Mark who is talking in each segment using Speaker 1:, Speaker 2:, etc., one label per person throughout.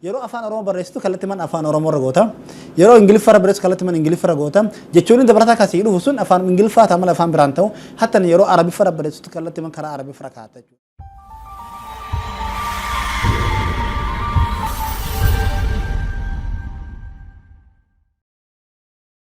Speaker 1: Yeroo afaan Oromoo barreessitu kallattiman afaan Oromoo irra goota. Yeroo Ingiliffa irra barreessitu kallattiman Ingiliffa irra goota. Jechoonni dabalataa kan sii dhufu sun afaan Ingiliffaa ta'a malee afaan biraan ta'u. Hattan yeroo Arabiffa irra barreessitu kallattiman karaa Arabiffa irra kaa'atta jechuudha.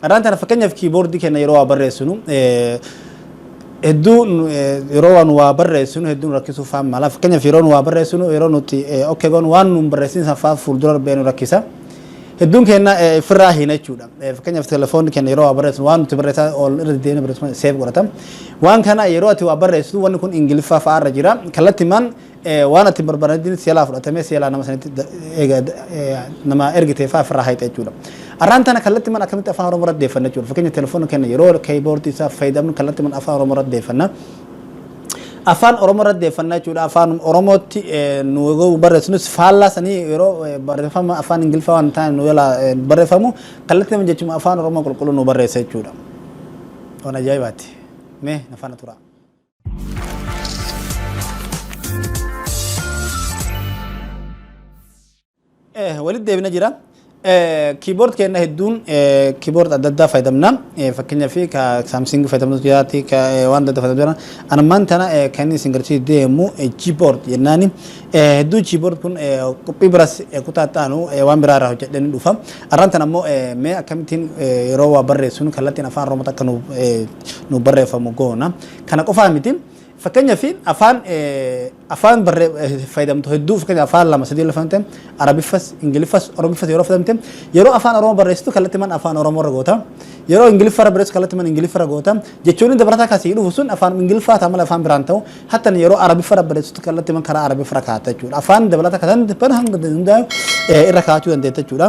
Speaker 1: Kanaan tana fakkeenyaaf kiiboordii keenya yeroo waa barreessinu hedduu yeroo waan waa barreessinu hedduu nu rakkisuu fa'aa mala. Fakkeenyaaf yeroo nu waa barreessinu yeroo nuti okkee goonu waan nu barreessin san fa'aa fuuldura darbee nu rakkisa. Hedduun keenya firraa hiina jechuudha. Fakkeenyaaf telefoonni keenya yeroo waa barreessinu waan nuti barreessaa ol irra deddeebiin barreessinu seef godhata. Waan kana yeroo ati waa barreessitu wanni kun Ingiliffaa fa'aa irra jira. Kallattimaan Waan ati hin barbaadnetti si jalaa fudhatamee si jalaa nama sanitti eega nama ergite fa'aa ofirraa hayxa jechuudha. Arraan tana kallattiman akkamitti afaan Oromoo irratti deeffanna jechuudha. Fakkeenya telefoona keenya yeroo keyboard isaa fayyadamnu kallattiman afaan Oromoo irratti deeffanna. Afaan Oromoo irratti deeffanna jechuudha. Afaan Oromootti nu yeroo barreessinus faallaa sanii yeroo barreeffama afaan Ingiliffaa waan taane nu jalaa barreeffamu kallattiman jechuma afaan Oromoo qulqulluu nu barreessa jechuudha. Waan ajaa'ibaati. Mee na faana turaa. walitti deebina jira. Kiiboord keenya hedduun kiiboord adda addaa fayyadamna. Fakkeenyaaf ka saamsing fayyadamnu jiraati ka waan adda addaa fayyadamnu jira. Ani ammaan tana kan inni isin garsiisu deemu kiiboord jennaani. Hedduu kiiboord kun qophii biras kutaa ta'anu waan biraa irraa hojjedhee ni dhufa. Arraan tana ammoo mee akkamittiin yeroo waa barreessuun kallattiin afaan Oromootti akka nuuf nuuf barreeffamu goona. Kana qofaa miti. Fakkeenyaaf afaan afaan fayyadamtu hedduu fakkeenya afaan lama sadii lafamte Arabiffas, Ingiliffas, Oromiffas yeroo fayyadamte yeroo afaan Oromoo barreessitu kallattii mana afaan Oromoo irra goota. Yeroo Ingiliffa irra barreessitu kallattii mana Ingiliffa irra goota. Jechoonni dabalataa akkasii dhufu sun afaan Ingiliffaa ta'a malee afaan biraan ta'u. Hattan yeroo Arabiffa irra barreessitu kallattii mana karaa Arabiffa irra kaa'atta jechuudha. Afaan dabalataa kan ta'an hanga hundaa irra kaa'achuu dandeetta jechuudha.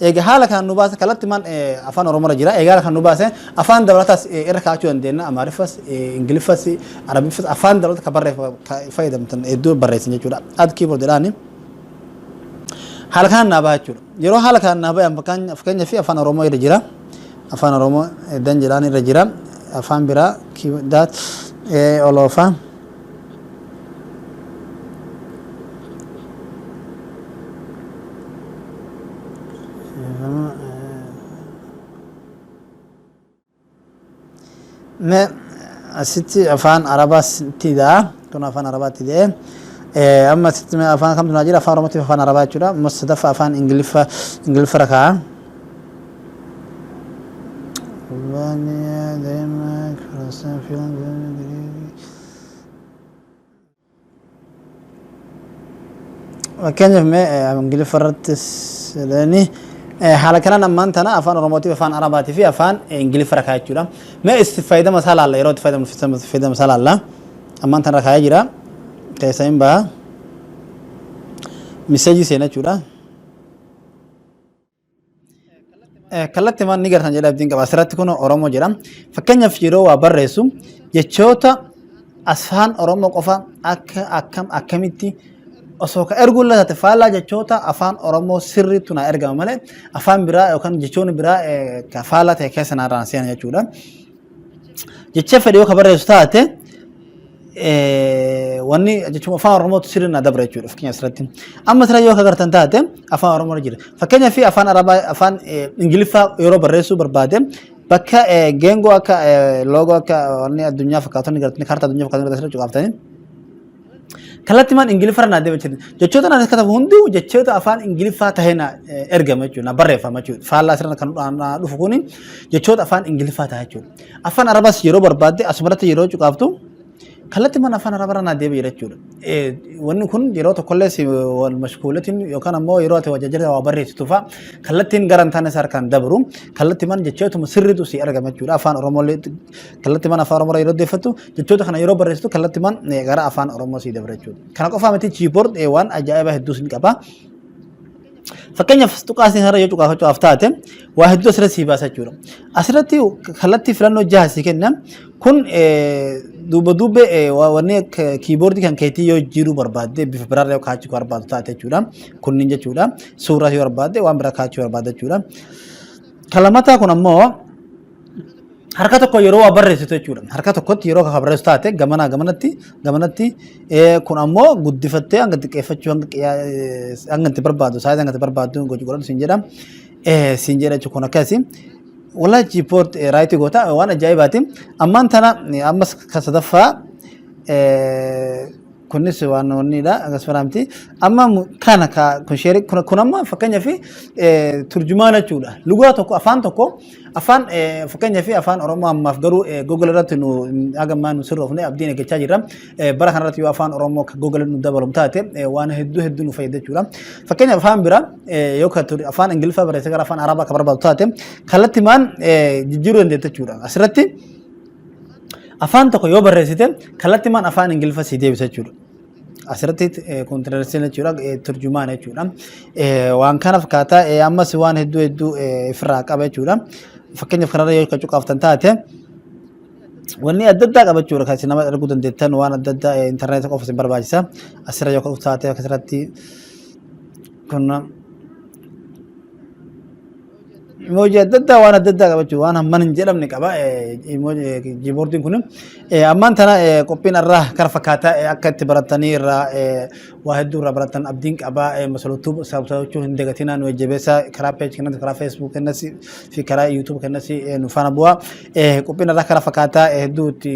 Speaker 1: Eega haala kanaan nu baase kallattimaan afaan Oromoo irra jira. Eega haala kanaan nu baase afaan dabalataas irra kaa'achuu dandeenya. Amaariffas, Ingiliffas, Arabiffas afaan dabalata kan barreeffa fayyadamtan hedduu barreessan jechuudha. Ad keyboard jedhaani. Haala kanaan naa baha jechuudha. Yeroo haala kanaan naa bahan fakkeenya fi afaan Oromoo irra jira. Afaan Oromoo dan jedhaan irra jira. Afaan biraa daat oloofa. me asitti afaan arabaa sitti daa kun afaan arabaatti dee amma asitti me afaan kamtu naa jira afaan oromootiif afaan arabaa jechuudha amma sadaffa afaan ingiliffa ingiliffa rakaa Albania, Denmark, Russia, Finland, Greece. Fakkeenyaaf mee Ingiliffa irrattis jedhanii haala kanaan ammaan tana afaan Oromootiif afaan Arabaatii fi afaan Ingiliffa irra kaa'ee jechuudha. Mee itti fayyadama isaa laalla yeroo itti fayyadama isaa laalla ammaan tana irra kaa'ee jira keessa hin baha miseejii seena jechuudha. Kallatti maal ni gartan jedha abdiin qaba. Asirratti kun Oromoo jedha. Fakkeenyaaf yeroo waa barreessu jechoota afaan Oromoo qofa akka akkam akkamitti osoo ka erguu illee taate faallaa jechoota afaan Oromoo sirriitu naa ergama malee afaan biraa yookaan jechoonni biraa ka faallaa ta'e keessa naa irraan seena jechuudha. jecha fedhe yoo ka barreessu taate eh, wanni jechuun afaan oromootu sirri na dabra jechuudha fakkeenyaaf asirratti amma sirra yoo ka gartan taate afaan oromoo irra jira fakkeenyaaf afaan arabaa afaan eh, ingiliffaa yeroo barreessuu barbaade bakka eh, geengoo akka eh, loogoo akka wanni addunyaa fakkaatonni gartanii kaartaa addunyaa fakkaatonni gartanii cuqaaftanii Kallattimaan Ingiliffaarra naa deema jechuudha. Jechoota naan katabu hunduu jechoota afaan Ingiliffaa tahee naa ergama jechuudha. Naa barreeffama jechuudha. Faallaa sirna kan naa dhufu kuni jechoota afaan Ingiliffaa ta'a jechuudha. Afaan Arabaas yeroo barbaadde asumarratti yeroo cuqaaftu kallattimaan afaan Arabaarra naa deema jira jechuudha. Wanni kun yeroo tokkollee si wal mashkuulatiin yookaan ammoo yeroo ati wajjajjata waa barreessitu fa'a kallattiin gara hin taane isaa harkaan dabru kallattimaan jechootuma sirriitu si argama jechuudha. Afaan Oromollee kallattimaan afaan Oromoorra yeroo deeffattu Jechoota kana yeroo barreessitu kallattimaan eh, gara afaan Oromoo sii dabra jechuudha. Kana qofaa miti chiiboord eh, waan ajaa'ibaa hedduus ni qaba. Fakkeenyaaf tuqaasni kanarra yoo cuqaafachuudhaaf taate waa hedduu asirratti sii baasa jechuudha. Asirratti kallattii filannoo jaha sii kenna. Kun eh, duuba duubee eh, wa- wanni akka kiiboordii kan keetii yoo jijjiiruu barbaadde bifa biraarra yoo kaachuu barbaaddu taate jechuudha. Kunniin jechuudha. Suuraa yoo barbaadde waan biraa kaachuu barbaadda jechuudha. Kalamataa kun ammoo harka tokko yeroo waa barreessitu jechuudha. Harka tokkotti yeroo kan barreessu taate gamanaa gamanatti gamanatti eh, kun ammoo guddifattee hanga xiqqeeffachuu hanga qiyyaa- eh, hanga itti barbaadu saayizii hanga itti barbaadu gochuu godhatu siin jedha. Eh, Siin jedha jechuun kun akkasi. Wallahi jiippoort raayitii goota waan ajaa'ibaati. Ammaan tana eh, ammas kan sadaffaa eh, Kunis waan wanniidha akkas faraamti. Amma mu- kana ka kun sheerii kun kun amma fakkeenyaaf eh, turjumaana jechuudha. Lugaa tokko afaan tokko afaan eh, fakkeenyaaf afaan Oromoo ammaaf garuu eh, Google irratti nu haga ammaa nu sirroofne abdiin eeggachaa jirra. Eh, Bara kana irratti yoo afaan Oromoo ka Google nu dabalam taate eh, waan hedduu hedduu nu fayyada jechuudha. Fakkeenyaaf afaan biraa eh, yoo ka tur- afaan Ingiliffaa barreessee gara afaan Arabaa ka barbaadu taate kallattimaan eh, jijjiiruu dandeetta jechuudha. Asirratti Afaan tokko yoo barreessite kallattimaan afaan Ingiliffa sii deebisa jechuudha. Asirratti kontiraaksiin jechuudha turjumaan jechuudha. Waan kana fakkaataa ammas waan hedduu hedduu ofirraa qaba jechuudha. Fakkeenyaaf kanarra yoo kan cuqaaftan taate wanni adda addaa qaba jechuudha kan isin nama arguu dandeettan waan adda addaa intarneetii qofa isin barbaachisa. Asirra yoo kan taate akkasirratti kun Emoji adda addaa waan adda addaa qabachuu waan hamman hin jedhamne qaba kiiboordiin kun. Ammaan tana qophiin irraa kara fakkaataa akka itti baratanii irraa waa hedduu irraa baratan abdiin qaba masalootuu saabsabachuu hin dagatinaa nu jajjabeessaa karaa peeji kennatti karaa feesbuuk kennatti fi karaa yuutuub kennatti nu faana bu'aa. Qophiin irraa kara fakkaataa hedduu itti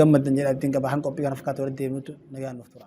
Speaker 1: gammaddan jedha abdiin qaba kan qophii kana fakkaatu walitti deemuutu nagaan nuuf tura.